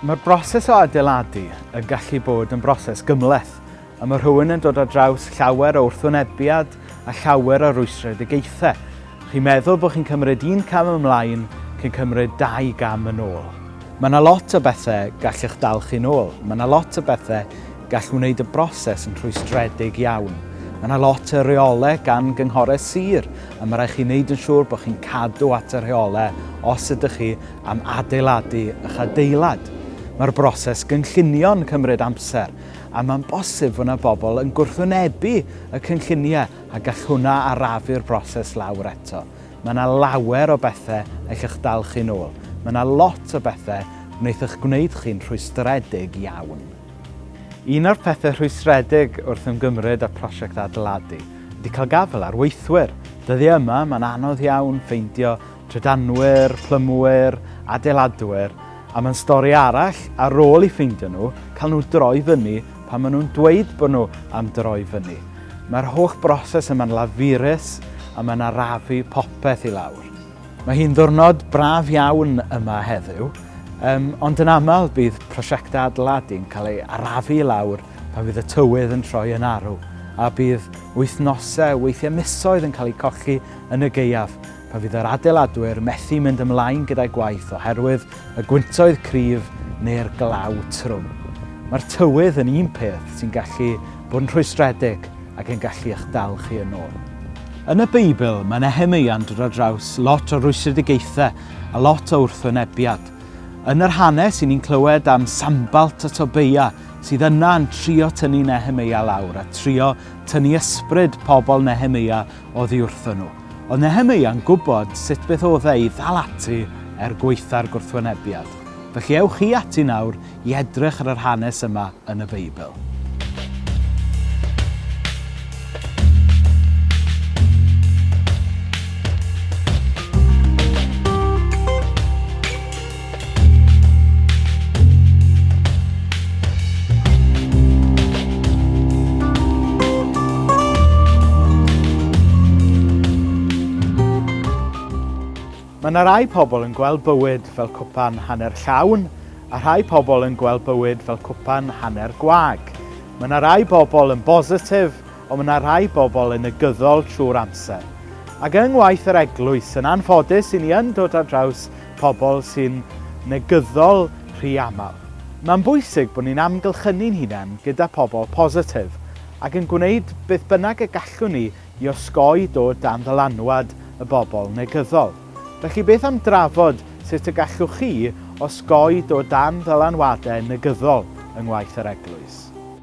Mae'r broses o adeiladu yn gallu bod yn broses gymhleth, a mae rhywun yn dod ar draws llawer o wrthwynebiad a llawer o rwystredigaethau. Chi'n meddwl bod chi'n cymryd un cam ymlaen cyn cymryd dau gam yn ôl. Mae yna lot o bethau gall eich dal chi'n ôl. Mae yna lot o bethau gall wneud y broses yn rhwystredig iawn. Mae yna lot o reolau gan gynghorau sir a mae rhaid chi wneud yn siŵr bod chi'n cadw at y rheolau os ydych chi am adeiladu eich adeilad. Mae'r broses gynllunio'n cymryd amser a mae'n bosib fod yna bobl yn gwrthwynebu y cynlluniau a gall hwnna arafu'r broses lawr eto. Mae yna lawer o bethau all eich dal chi'n ôl. Mae yna lot o bethau wneith eich gwneud chi'n rhwystredig iawn. Un o'r pethau rhwystredig wrth ymgymryd â prosiect adeiladu ydy cael gafael ar weithwyr. Dyddiau yma mae'n anodd iawn ffeindio trydanwyr, plymwyr, adeiladwyr, a mae'n stori arall ar ôl i ffeindio nhw, cael nhw droi fyny pan maen nhw'n dweud bod nhw am droi fyny. Mae'r holl broses yma'n lafurus a mae'n arafu popeth i lawr. Mae hi'n ddwrnod braf iawn yma heddiw, um, ond yn aml bydd prosiectau adeiladu'n cael ei arafu i lawr pan fydd y tywydd yn troi yn arw, a bydd wythnosau, weithiau misoedd yn cael eu colli yn y geiaf, pan fydd yr adeiladwyr methu mynd ymlaen gyda'i gwaith oherwydd y gwyntoedd cryf neu'r glaw trwm. Mae'r tywydd yn un peth sy'n gallu bod yn rhwystredig ac yn gallu eich dal chi yn ôl. Yn y Beibl, mae Nehemeia'n dod ar draws lot o rwystredigaethau a lot o wrthwynebiad. Yn yr hanes, i ni'n clywed am Sambalt a Tobeia sydd yna yn trio tynnu Nehemeia lawr a trio tynnu ysbryd pobl Nehemeia oddi wrthyn nhw. Oedd Nehemia'n gwybod sut beth oedd e i ddal ati er gwaetha'r gwrthwynebiad. Felly ewch chi ati nawr i edrych ar yr hanes yma yn y Beibl. Mae yna rai pobl yn gweld bywyd fel cwpan hanner llawn a rhai pobl yn gweld bywyd fel cwpan hanner gwag. Mae yna rai bobl yn bositif Ond mae yna rhai bobl yn negyddol trwy'r amser. Ac yng ngwaith yr Eglwys, yn anffodus i ni yn dod ar draws pobl sy'n negyddol rhy aml. Mae'n bwysig bod ni'n amgylchynu'n hunain gyda phobl positif ac yn gwneud beth bynnag y gallwn ni i osgoi dod dan ddylanwad y bobl negyddol. Felly beth am drafod sut y gallwch chi osgoi dod dan ddylanwadau negyddol yng ngwaith yr Eglwys?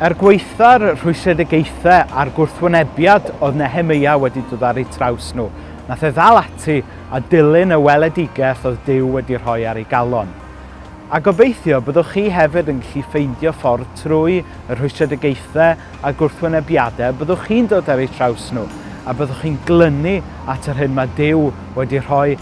Er gwaetha'r rhwystredigaethau a'r gwrthwynebiad oedd Nehemeia wedi dod ar eu traws nhw, nath e ddal ati a dilyn y weledigaeth oedd Duw wedi rhoi ar ei galon. A gobeithio byddwch chi hefyd yn gallu ffeindio ffordd trwy y rhwystredigaethau a'r gwrthwynebiadau y byddwch chi'n dod ar eu traws nhw, a byddwch chi'n glynu at yr hyn mae Duw wedi rhoi